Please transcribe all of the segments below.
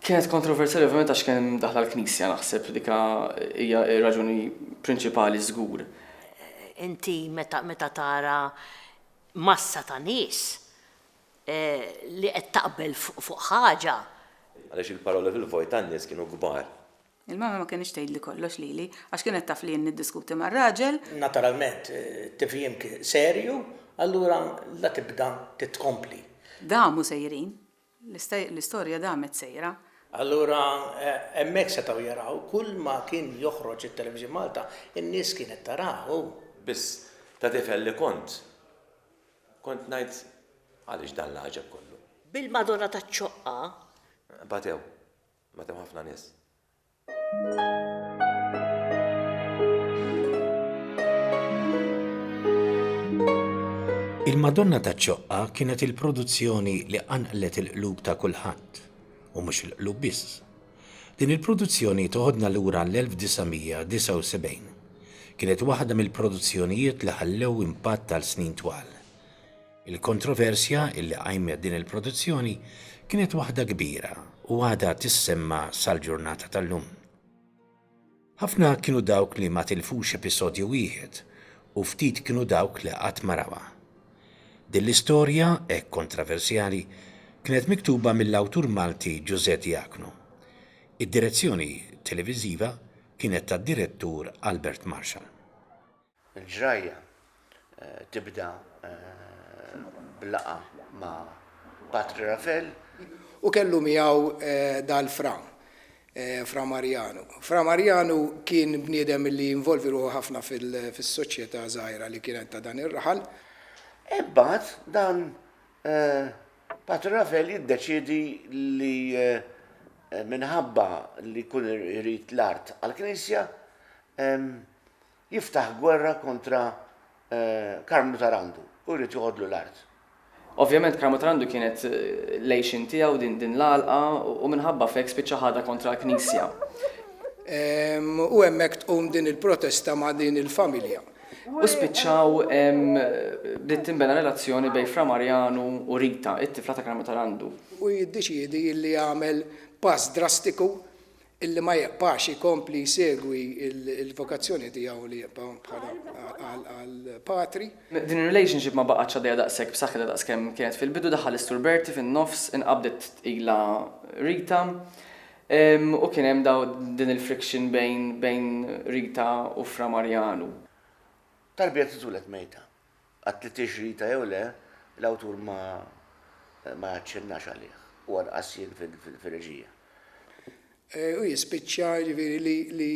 Kienet kontroversjali ovvjament għax kien daħla l-Knisja naħseb dika hija raġuni prinċipali żgur. Inti meta meta tara massa ta' nies eh, li qed taqbel fuq ħaġa. Għaliex il-paroli fil-vojt tan-nies kienu kbar. Il-mama ma kenitx tgħidli kollox lili għax kienet taf li jien niddiskuti mar-raġel. Naturalment, tifhim kien serju, allura la tibda titkompli. Damu sejrin. L-istorja damet sejra. Allura hemmhekk setgħu jaraw kull ma kien joħroġ it-Television Malta, in-nies kienet tarah u. Biss, ta' tifel li kont, kont ngħid, għaliex dan l-għaġeb kollu? Bil-Madonna taċ-Ċoqqa. Batew. Meta hemm ħafna nies. Il-Madonna taċ-Ċoqqa kienet il-produzzjoni li qanqlet il-qlub ta' kulħadd, u mhux il-qlub biss. Din il-produzzjoni toħodna lura l-1979. Kienet waħda mill-produzzjonijiet li ħallew impatt għal snin twal. Il-kontroversja li qajmet din il-produzzjoni kienet waħda kbira u għadha tissemma' sal-ġurnata tal-lum. Ħafna kienu dawk li ma tilfux episodju wieħed u ftit kienu dawk li qatt ma rawha. Din l-istorja hekk kontroversjali kienet miktuba mill-awtur Malti Ġużè Diaknu. Id-direzzjoni televiżiva kienet tad-direttur Albert Marshall. Il-ġrajja tibda b'laqgħa ma' Patri Ravel. U kellu miegħu dal-Fra, Fra Marjanu. Fra Marjanu kien bniedem li involvi ruħu ħafna fis-soċjetà żgħira li kienet ta' dan ir-raħal. Imbagħad dan Patri Ravel jiddeċiedi li minħabba li jkun irid l-art għall-knisja, jiftaħ gwerra kontra Karmnu Tarandu u jrid joħodlu l-art. Ovvjament Karmnu Tarandu kienet l-għixien tiegħu din l-għalqa u minħabba f'hekk spiċċa ħadha kontra l-Knisja. U hemmhekk tqum din il-protesta ma' din il-familja. U spiċċaw bdiet tinbena relazzjoni bejn Fra Marjanu u Rita, it-tifla ta' Karmnu Tarandu. U jiddeċiedi li jagħmel pass drastiku illi ma jibqax ikompli jsegwi l-vokazzjoni tiegħu li jibqa' bħala għal patri. Din ir-relationship ma baqgħetx għaddejja daqshekk b'saħħitha daqskemm kienet fil-bidu, daħħal is-Sur Bertie fin-nofs, inqabdet tqila Rita, u kien hemm din il-friction bejn Rita u Fra Marjanu. Talbiet li twiled mejta. Għad li tixrita jew le, l-awtur ma ma jaċċennax għalih, u anqas jien fir-reġija. U jispiċċa, jiġifieri, li li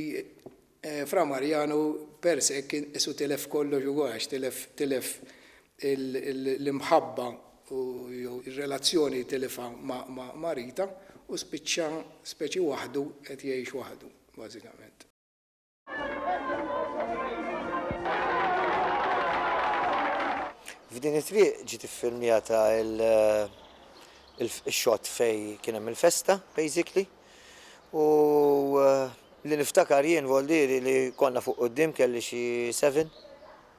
Fra Marjanu per se kien qisu tilef kollox ukoll għax tilef tilef l-imħabba u jew ir-relazzjoni li tilifha ma' Rita u spiċċa speċi waħdu qed jgħix waħdu, bażikament. F'din it-triq ġiet iffilmjata il-xot fej kien hemm il-festa, basically. U eh, li niftakar jien voldiri li konna fuq qoddim kelli xi 7,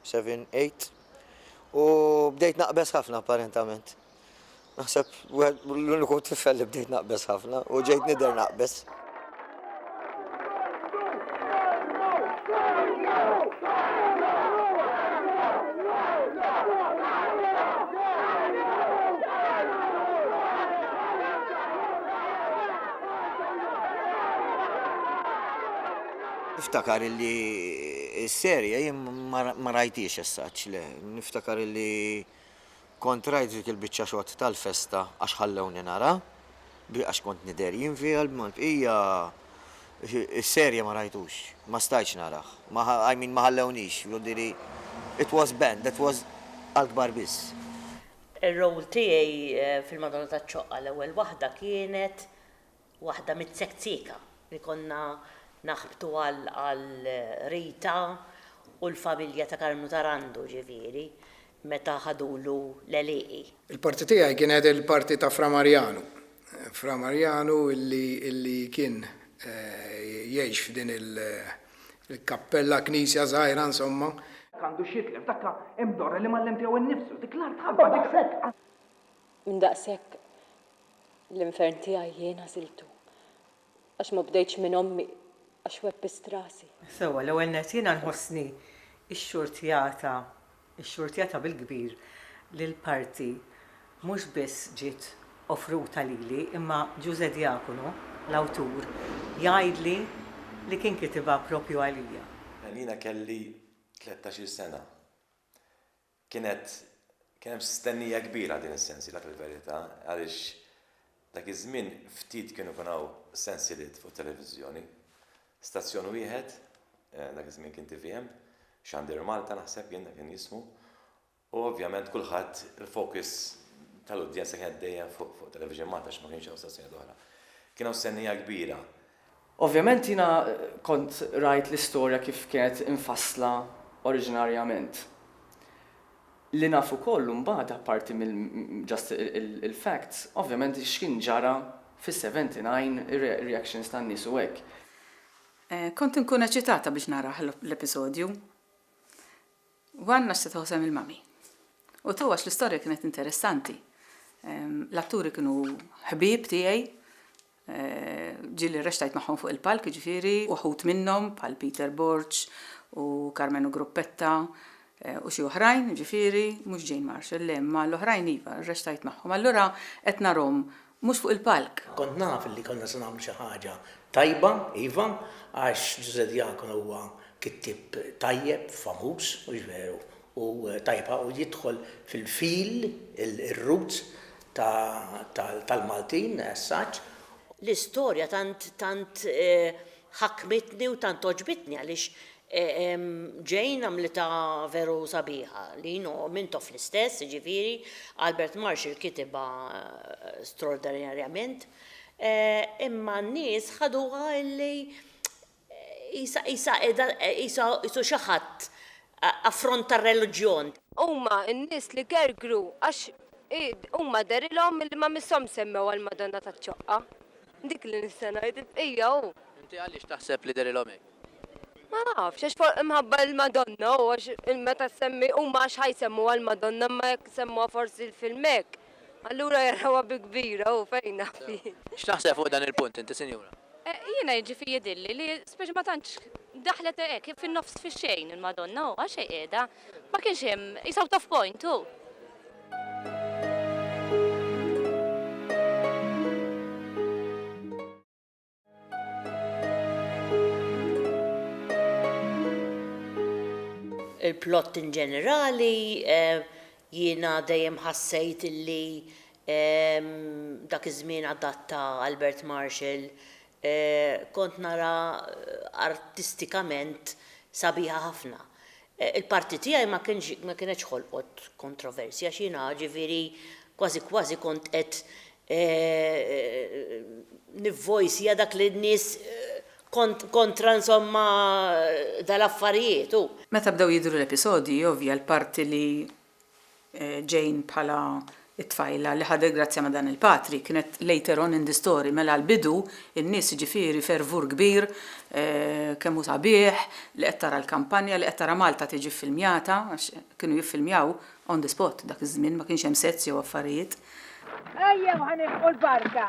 7, 8. U bdejt naqbes ħafna apparentament. Naħseb l-uniku tifel li bdejt naqbeż ħafna u ġejt nidher naqbeż. niftakar illi s-serja jien ma rajtiex essaċ, le, niftakar illi Kont rajt dik il-biċċa xott tal-festa għax ħallewni nara, bi għax kont nidher jien fiha imma l-bqija is-serje ma rajtux, ma stajtx narah, ma I mean ma ħallewniex, jidirli it was banned, that was għall-kbar biss. Ir-role tiegħi fil-Madonna taċ-Ċoqqa l-ewwel waħda kienet. waħda mit-tzekzieka li konna naħbtu għal Rita u l-familja ta' Karmnu Tarandu ġifieri meta ħadulu l-għelieqi. Il-parti tiegħi kienet il-parti ta' Fra Marjanu. Fra Marjanu illi kien jgħix f'din il-kappella, knisja żgħira insomma. Għandu x'jitlef, dakka hemm dorra li m'għallem tiegħu nnifsu, dik l-art ħabba, dik hekk. Minn daqshekk l-infern tiegħi jien għażiltu, għax ma bdejtx minn ommi għax webbist rasi. Sewwa, l-ewwel nett jiena nħossni xxurtjata, xxurtjata bil-kbir li l-parti mhux biss ġiet offruta lili imma Ġużè Diaconu, l-awtur, jgħidli li kien kitibha proprju għalija. Jiena kelli tlettax-il sena. Kienet, kien hemm stennija kbira għal din is-sensiela fil-verità għaliex dak iż-żmien ftit kienu jkun hawn sensieliet fuq it-televiżjoni. Stazzjon wieħed, dak iż-żmien kien tvm, Xandir Malta naħseb jien dak kien jismu, u ovvjament kulħadd il-focus tal-udjenza kienet dejjem fuq Television Malta għax ma kienx hawn stazzjonijiet oħra. Kien hawn stennija kbira Ovvjament jiena kont rajt l-istorja kif kienet imfassla oriġinarjament. Li naf ukoll mbagħad apparti mill just il-facts, ovvjament x'kien ġara fis-79 reactions tan-nies u hekk. Kont inkun eċitata biex narah l-episodju. Wanna x'se toħsem il-mummy. U taw għax l-istorja kienet interessanti. L-atturi kienu ħbieb tiegħi, ġieli rrextajt magħhom fuq il-palk, jiġifieri uħud minnhom bħal Peter Borg u Karmenu Gruppetta u xi oħrajn, jiġifieri mhux Jane Marshall, le, imma l-oħrajn iva, rrextajt magħhom. Allura qed narhom Mhux fuq il-palk. Kont naf li konna se nagħmlu xi ħaġa tajba, iva, għax Ġużè Diacono huwa kittieb tajjeb, famuż, mhux veru? U tajjeb ħafna u jidħol fil-fil, ir-roots, tal-Maltin as such. L-istorja tant ħakmitni u tant għoġbitni għaliex Jane għamlitha veru sabiħa, li you know, Mintoff l-istess, jiġifieri, Albert Marshall kitibha straordinarjament, imma n-nies ħaduha illi qisha, qisha qiegħda, qisha, qisu xi ħadd, affront tar-reliġjon. Huma n-nies li gergru għax huma dehrilhom illi ma misshomx semmew għall-Madonna taċ-Ċoqqa. Dik li nista' ngħid, il-bqija hu. Inti għaliex taħseb li dehrilhom hekk? Ma nafx, għax for imħabba il-Madonna hu għax meta ssemmi huma għax ħa jsemmuha l-Madonna imma jekk semmuha forsi l-film hekk, allura jarawha bi kbira hu fejn naf jien. X'taħseb fuq dan il-punt inti sinjura? Jiena jiġifi jidhirli li speċi ma tantx daħlet hekk fin-nofs fix-xejn il-Madonna hu għax hi qiegħda Ma kienx hemm, he's out of point hu. Il-plott in ġenerali jiena dejjem ħassejt illi dak iż-żmien adatta Albert Marshall Kont nara artistikament sabiħa ħafna. Il-parti tiegħi ma kienx ma kienetx ħolqot kontroversja għax jiena ġifieri kważi kważi kont qed nivvojsja dak li n-nies kont kontra insomma dal-affarijiet u. Meta bdew jidhru l-episodji ovvja l-parti li Jane bħala t-tfajla li ħadet grazzja ma' dan il-patri kienet later on in the story mela l-bidu n-nies jiġifieri fervur kbir kemm hu sabiħ li qed tara l-kampanja li qed tara Malta tiġi ffilmjata għax kienu jiffilmjaw on the spot dak iż-żmien ma kienx hemm sets jew affarijiet. Ejjew ħa nilħqu l-barka.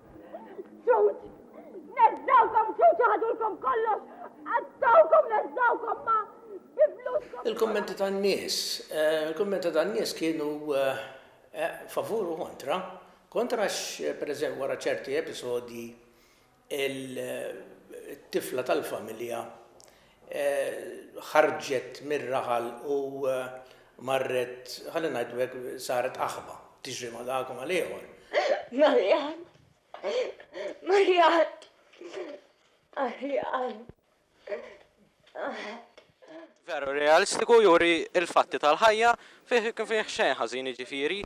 Ġuġ! Neżżawkom ġuġ ħadulkom kollox! Qattawkom neżżawkom ma' bifluskom! Il-kummenti tan-nies. Eh, il-kummenti tan-nies kienu eh, eh, favur u kontra. Kontra għax, pereżempju, wara ċerti episodji il-tifla tal-familja ħarġet mir-raħal u marret, ħalli ngħidu hekk, saret aħba, tiġri ma' dak u mal-ieħor. Marjan! Marjan! Marjan! Veru realistiku, juri l-fatti tal-ħajja, Fih kien fih xejn ħażin jiġifieri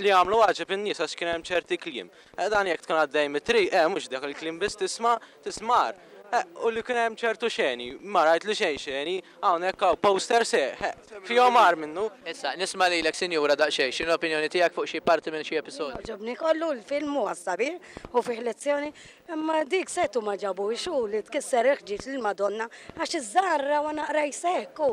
li għamlu għaġeb in-nies għax kien hemm ċerti kliem. Dan jekk tkun għaddej mit-triq eh mhux dak il-kliem biss tisma' tismar. U li kien hemm ċertu xeni, ma rajt li xejn xeni, hawnhekk hawn posters eh fihom agħar minnu. Issa, nisma' lilek sinjura daqsxejn, x'inhi l-opinjoni tiegħek fuq xi parti minn xi episodju? Jien għoġobni kollu, il-film huwa sabiħ u fih lezzjoni, imma dik setgħu ma ġabuhiex hu li tkisser il-ħġieġ lill-Madonna għax iż-żgħar rawha naqra jseħħku.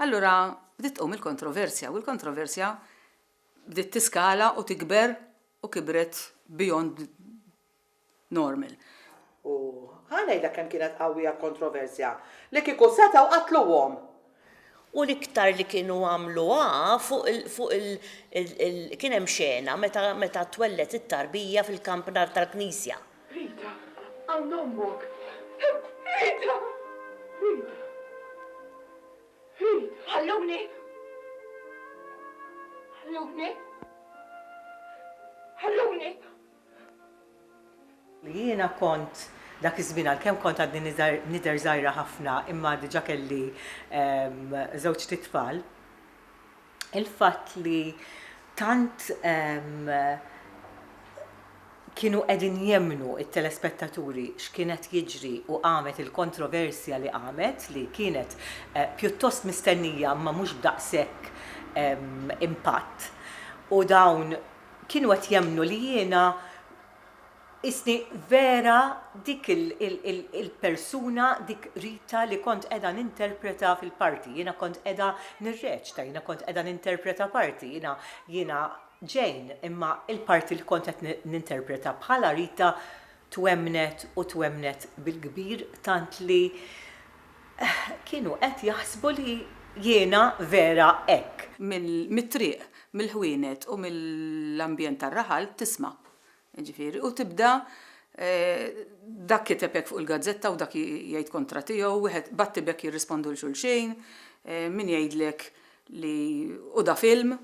Allura bdiet tqum il-kontroversja u l-kontroversja bdiet tiskala u tikber u kibret beyond normal. U ħa ngħidlek kemm kienet qawwija l-kontroversja, li kieku setgħu qatluhom! U l-iktar li kienu għamluha fuq il, fuq il, il, kien hemm xena meta, meta twelled it-tarbija fil-kampnar tal-knisja. Rita, hawn ommok! Rita! Rita! Rita! Ħalluni! Ħalluni! Ħalluni! Li jiena kont dak iż-żmien għalkemm kont għadni nidher żgħira ħafna imma diġà kelli żewġt itfal, il-fatt li tant kienu qegħdin jemmnu t-telespettaturi x'kien qed jiġri u qamet il-kontroversja li qamet li kienet pjuttost mistennija imma mhux b'daqshekk impatt u dawn kienu qed jemmnu li jiena qisni vera dik il-persuna, dik Rita li kont qiegħda ninterpreta fil-parti. Jiena kont qiegħda nirreċta, jiena kont qiegħda ninterpreta parti. Jiena, jiena Jane, imma l-parti li kont qed ninterpreta bħala Rita Twemmnet u twemmnet bil-kbir tant li kienu qed jaħsbu li jiena vera hekk. Mit-triq, mill-ħwienet u mill-ambjent tar-raħal tisma', jiġifieri, u tibda dak kiteb hekk fuq il-gazzetta u dak jgħid kontra tiegħu, wieħed batti b'hekk jirrispondu 'l xulxin, min jgħidlek li hu da film,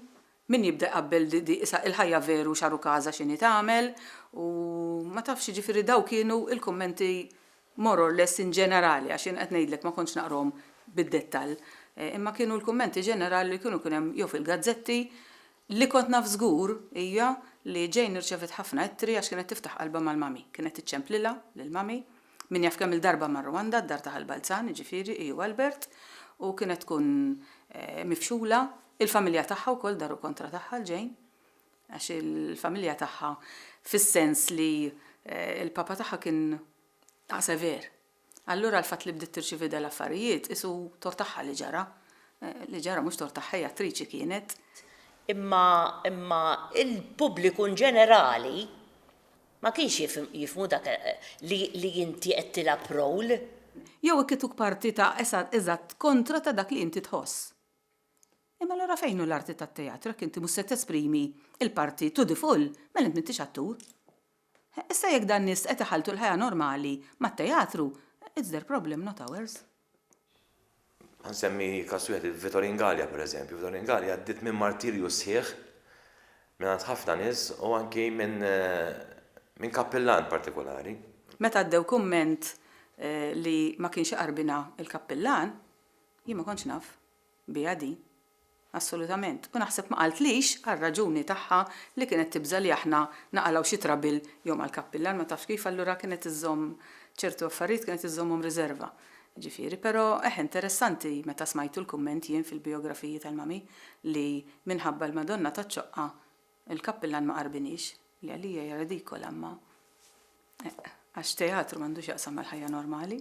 Min jibda jqabbel di isa il-ħajja veru xaru kaza xini tagħmel u ma tafx jiġifieri daw kienu il-kummenti more or less in ġenerali għax jien qed ngħidlek ma kontx naqrahom bid-dettall imma kienu l-kummenti ġenerali li kienu kien hemm jew fil-gazzetti li kont naf żgur hija li Jane irċevet ħafna ittri għax kienet tiftaħ qalbha mal-mummy kienet iċċemplilha lill-mummy Min jaf kemm-il darba mar Rwanda, d-dar ta' Ħal Balzan, jiġifieri, hi u Albert, u kienet tkun mifxula. Il-familja tagħha wkoll daru kontra tagħha, l-ġejn. Għax il-familja tagħha fis-sens li l-papa tagħha kien ta' sever. Allura l-fatt li bdiet tirċievi dal-affarijiet qisu tort tagħha li ġara. Li ġara mhux tort tagħha, hi attriċi kienet. Imma, imma, il-pubbliku inġenerali Ma kienx jifhmu dak li inti qed tilgħab role. Jew ikituk parti ta' eżatt kontra ta' dak li inti tħoss. Imma allura fejn hu l-arti tat-teatru jekk inti mhux se tesprimi l-parti to the full, mela int m'intix attur. Issa jekk dan nies qed iħalltu l-ħajja normali mat-teatru, it's their problem not ours. Ħa nsemmi każ wieħed il-Vitorin Galea pereżempju. Vitorin Galea għaddiet minn martirju sħiħ mingħand ħafna nies u anki minn minn kappillan partikulari. Meta għaddew kumment li ma kienx iqarbinha l-kappillan, jien ma kontx naf biha din. Assolutament. U naħseb ma qaltlix għar-raġuni tagħha li kienet tibża' li aħna naqalgħu xi trabil jew mal-kappillan, ma tafx kif, allura kienet iżżomm ċertu affarijiet kienet iżżommhom riserva. Jiġifieri, però eħ interessanti meta smajtu l-kumment jien fil-bijografiji tal-Mami li minħabba l-Madonna taċ-Ċoqqa l-kappillan ma qarbiniex, li għalija hija redikola imma eq. Għax teatru m'għandu x'jaqsam mal-ħajja normali.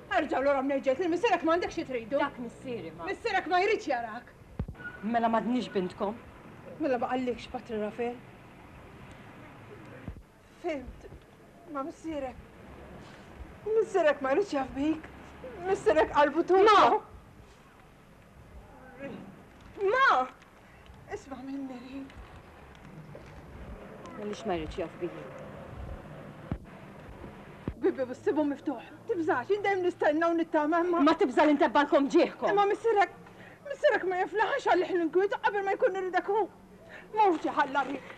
Erġa' lura mnejġes lil missierek m'għandek xi tridu. Dak missieri ma. Missierek ma jridx jarak. Mela m'għadnix bintkom. Mela ma qallikx Patri Rafel? Fhimt. Ma missierek. Missierek ma jridx jaf bik. Missierek qalbu tugħlbu. Ma! Ma! Isma' minni ri. Għaliex ma jridx jaf bih. Bibi, bissibu miftuħ. Tibżax, jien dejjem nistenna u nittama imma. Ma tibża li ntebbalkom ġieħkom. Imma missirek, missirek ma jiflaħax għalih l-inkwiet qabel ma jkun iridek hu. Mhux ġiħalla rrid.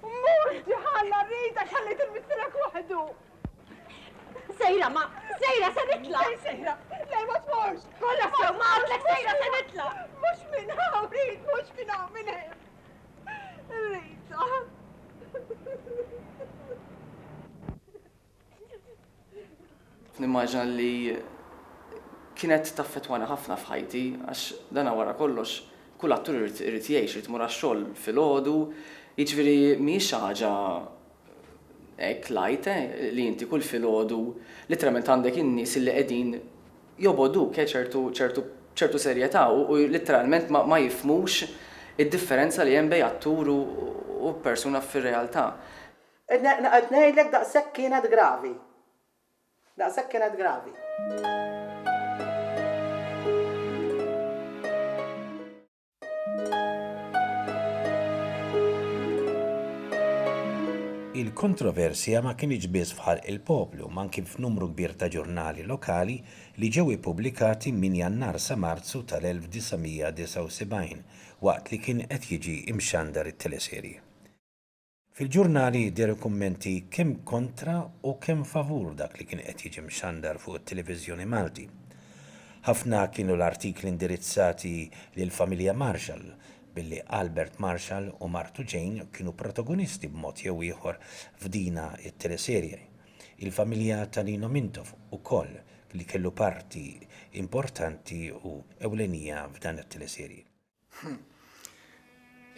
Mhux ġiħalla rrid għax ħallejt il-missirek waħdu. Sejra, ma, sejra se nitla! Fejn sejra? Le, ma tmorx! Kolla sew, ma għatlek sejra se nitla! Mux minn hawn, Rit, mux minn hawn, minn hemm! Rita! Nimmaġina li kienet taffetwani ħafna f'ħajti għax dana wara kollox kull attur irid irid jgħix, irid imur għax-xogħol filgħodu, jiġifieri mhijiex xi ħaġa Hekk l-għid li inti kull filgħodu litteralment għandek in-nies illi qegħdin jobogħduk b'ċertu serjetà u litteralment ma jifhmux id-differenza li hemm bejn attur u persuna fir-realtà. Qed ngħidlek daqshekk kienet gravi. Daqshekk kienet gravi. Il-kontroversja ma kinitx biss f'ħalq il-poplu ma anki f'numru kbir ta' ġurnali lokali li ġew ippubblikati minn Jannar sa Marzu tal-1979 waqt li kien qed jiġi mxandar it-teleserje. Fil-ġurnali jidher kummenti kemm kontra u kemm favur dak li kien qed jiġi mxandar fuq it-Televiżjoni Malti. Ħafna kienu l-artikli indirizzati lill-familja Marshall, billi Albert Marshall u martu Jane kienu protagonisti b'mod jew ieħor f'dina t-teleserje. Il-familja ta' Lino Mintoff ukoll li kellu parti importanti u ewlenija f'dan it-teleserje.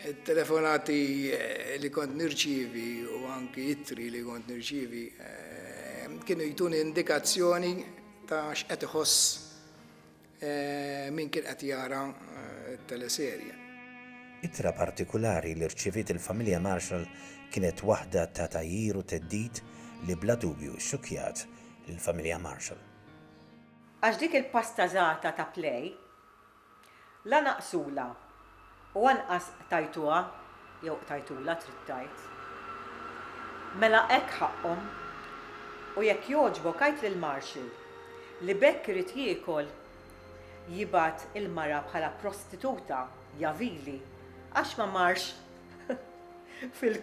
Il-telefonati li kont nirċievi u anki ittri li kont nirċievi eh, kienu jtuni indikazzjoni ta' x'qed iħoss eh, min kien qed jara eh, teleserje. Ittra partikulari li rċiviet il-familja Marshall kienet waħda ta' tajjir u theddid li bla dubju xxukkjat lill-familja Marshall. Għax dik il-pastazata ta' Play La naqqsulha u anqas qtajtuha, jew qtajtulha trid tgħid. Mela hekk ħaqqhom. U jekk jogħġbok għid lill-Marshal li b'hekk irid jiekol, jibgħat il-mara bħala prostituta, ja vili, għax ma marx fil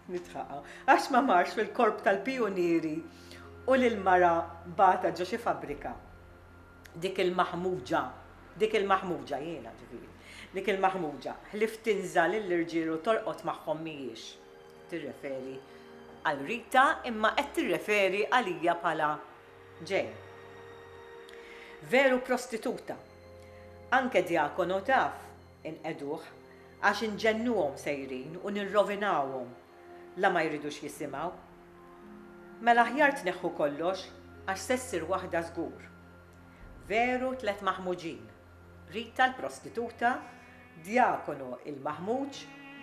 nidħaq hawn, għax ma marx fil-korp tal-pijunieri u lill-mara bagħatha ġo xi fabbrika. Dik il-maħmuġa, dik il-maħmuġa, jiena, ġifieri, dik il-maħmuġa, ħlief tinża' lill-irġiel u torqod magħhom mhijiex tirreferi għal Rita imma qed tirreferi għalija bħala Jane. Veru prostituta. Anke djakono taf inqegħduh għax inġennuhom sejrin u nirrovinawhom la ma jridux jisimgħu. Mela aħjar tneħħu kollox għax se ssir waħda żgur. Veru tliet maħmuġin, Rita l-prostituta, Djakonu il-maħmuġ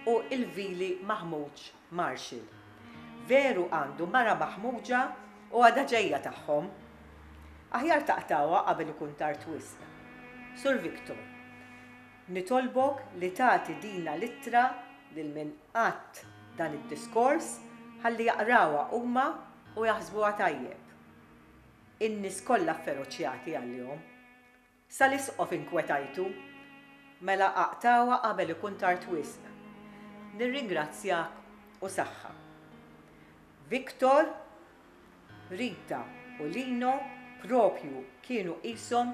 u il-vili maħmuġ Marshall. Veru għandu mara maħmuġa u għadha ġejja tagħhom. Aħjar taqtgħuha qabel ikun tard wisq. Sur Victor. Nitolbok li tagħti dina l-ittra lil min għadt dan id-diskors ħalli jaqrawha huma u jaħsbuha tajjeb. In-nies kollha fferoċjati għalihom. Sal-Isqof inkwetajtu? Mela aqtgħuha qabel ikun tard wisq. Nirringrazzjak u saħħa. Victor. Rita u Lino propju kienu qishom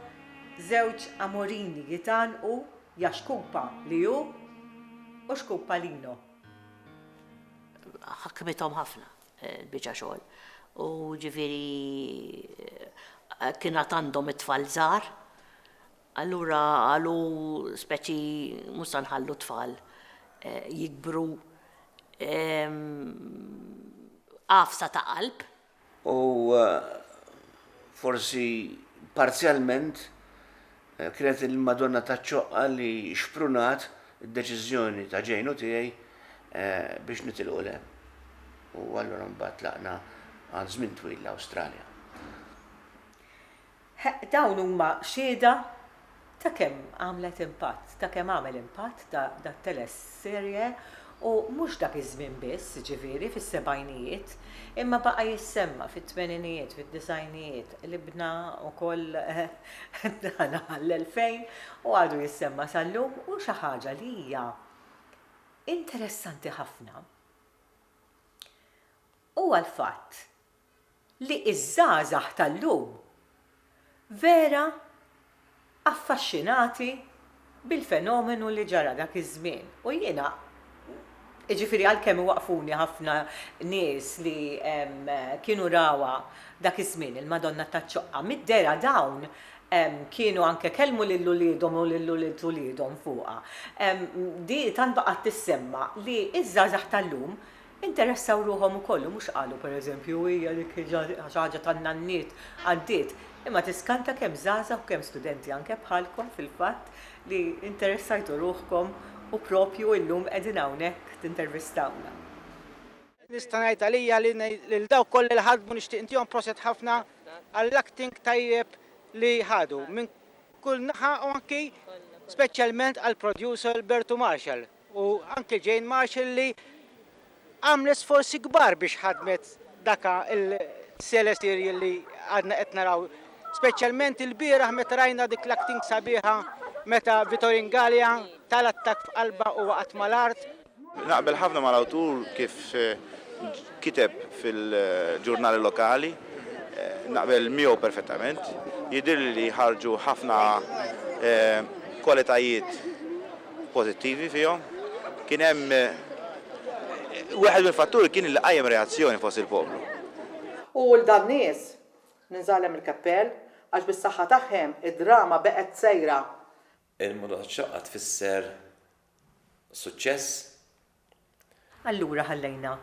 żewġ amorini jitgħannqu ja xkupa li hu u xkupa Lino. Ħakmithom ħafna l-biċa xogħol u ġifieri kien għad għandhom it-tfal żgħar. Allura qalu speċi mhux se nħallu t-tfal jikbru. Għafsa ta' qalb. U forsi parzjalment kienet il-Madonna taċ-Ċoqqa li xprunat id-deċiżjoni ta' Jane u tiegħi biex nitilqu 'l hemm. U allura mbagħad tlaqna għal żmien twil l-Awstralja. Heq, dawn huma xhieda ta' kemm għamlet impatt, ta' kemm għamel impatt dat-teleserje u mhux dak iż-żmien biss, jiġifieri fis-sebgħinijiet, imma baqa' jissemma' fit-tmeninijiet, fid-disgħinijiet, libna wkoll dan għall-elfejn u għadu jissemma' sal-lum u xi ħaġa li hija interessanti ħafna, Huwa l-fatt li ż-żgħażagħ tal-lum vera affaxxinati bil-fenomenu li ġara dak iż-żmien u jiena, jiġifieri għalkemm iwaqqfuni ħafna nies li kienu rawha dak iż-żmien, il-Madonna taċ-Ċoqqa, mid-dehra dawn kienu anke kellmu lil uliedhom u lil ulied uliedhom fuqha. Din tant baqgħet tissemma li ż-żgħażagħ tal-lum Interessaw ruħhom ukoll u mhux qalu, per eżempju, hija dik xi ħaġa tan-nanniet, għaddiet. Imma tiskanta kemm żgħażagħ u kemm studenti anke bħalkom fil-fatt li interessajtu ruħkom u proprju illum qegħdin hawnhekk tintervistawna. Nista' ngħid għalija li lil dawk kollha li ħadmu nixtieq ntihom proset ħafna għall-acting tajjeb li ħadu minn kull naħa u anki speċjalment għall-producer Bertu Marshall. u anke Jane Marshall li għamlet sforzi kbar biex ħadmet daka il-teleserial li għadna qed naraw. Speċjalment il-bieraħ meta rajna dik l-acting sabiħa meta Vitor Ingalia tal-attakk f'qalbha u waqgħet mal-art. Naqbel ħafna mal-awtur kif kiteb fil-ġurnali lokali, naqbel miegħu perfettament. Jidhirli li ħarġu ħafna kwalitajiet pożittivi fihom. Kien hemm wieħed mill-fatturi kien li qajjem reazzjoni fost il-poplu. U 'l dan-nies ninżagħlem il-keppell għax bis-saħħa tagħhem id-drama beqgħet sejra. Il-motto taċ-ċaqqa tfisser suċċess. Allura ħallejna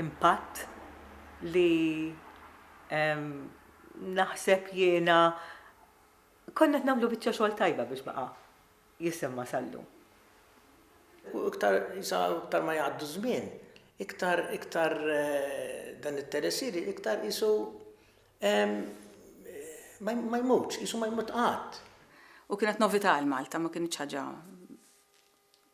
impatt li naħseb jiena konna qed nagħmlu biċċa xogħol tajba biex baqa' jisemma' sal-lum. U iktar sa iktar ma jgħaddu żmien, iktar iktar dan it-telesir iktar qisu ma jmutx, qisu ma jmut qatt. U kienet novità għal Malta, ma kinitx ħaġa